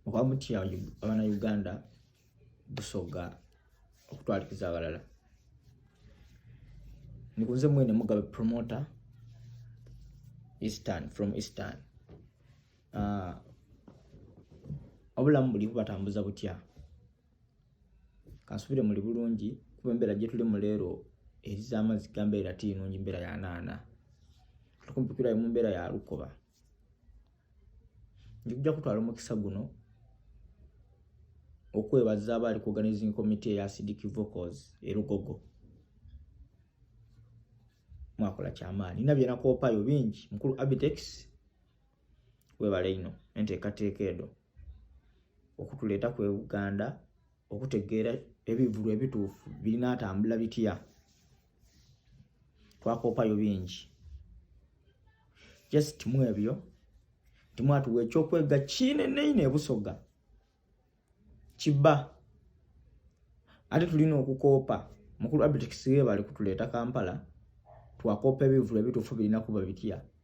oba mutya abana Uganda busoga okutwalikiza abalala nikunze mwene mugabe promoter eastern from eastern uh, obulamu buli kubatambuza butya kansubire muli bulungi kuba embeera gyetuli mu leero eri z'amazzi gambeera tiinungi mbeera ya naana tukumpikirayo mu mbeera ya lukoba njija kutwala omukisa guno okwebaza abaali ku organizing committee ya acidic vocals erugogo mwakola kyamaani nina byenakoopayo bingi mukulu abitex webale ino enteekateeka edo okutuleeta ku uganda okutegeera ebivulu ebituufu birinatambula bitya twakoopayo bingi just mu ebyo timwatuwa ekyokwega kineneine ebusoga kiba ate tulina okukoopa mukulu abitex webale kutuleeta kampala twakoopa ebivulu ebituufu birina kuba bitya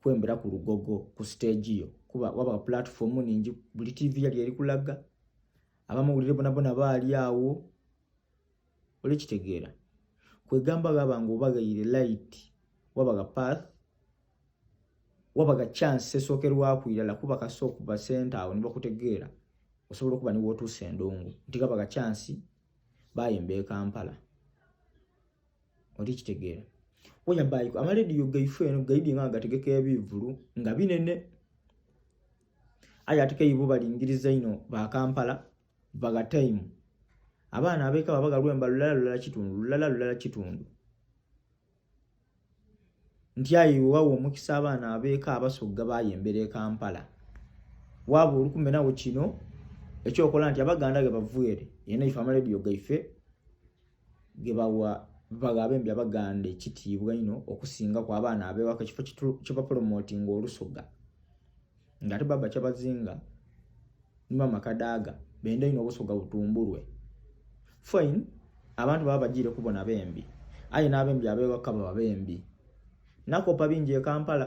kwembera ku lugogo ku stage yo kuba waba platform ningi buli tv yali eri kulaga abamawulire bona bona baali awo olikitegeera kwegamba gaba nga obagayire light wabaga path wabaga chance esookerwaku irala kuba kasa okuva sente awo nibakutegeera osobola okuba niwootuusa endongo nti gabaga chance bayimba ekampala oli kitegeera oya bayiko amalediyo gaife eno gaidi nga agategeka ebivulu nga binene aye ate keibo balingiriza ino ba kampala baga time abaana abeka babaga lwemba lulala lulala kitundu lulala lulala kitundu nti ayi wawo omukisa abaana abeka abasogga bayembera e kampala waba olukumenawo kino ekyokola nti abaganda ge bavuere yena ife amalediyo gaife gebawa baga abembi abaganda ekitiibwa ino okusinga ku abaana abewaka ekifo kibapolomotinga olusoga nga ate baba kyabazinga nimama kadaaga benda ino obusoga butumbulwe fine abantu baba bagiire kubona bembi aye n'abembi abewaka baba bembi nakopa bingi e kampala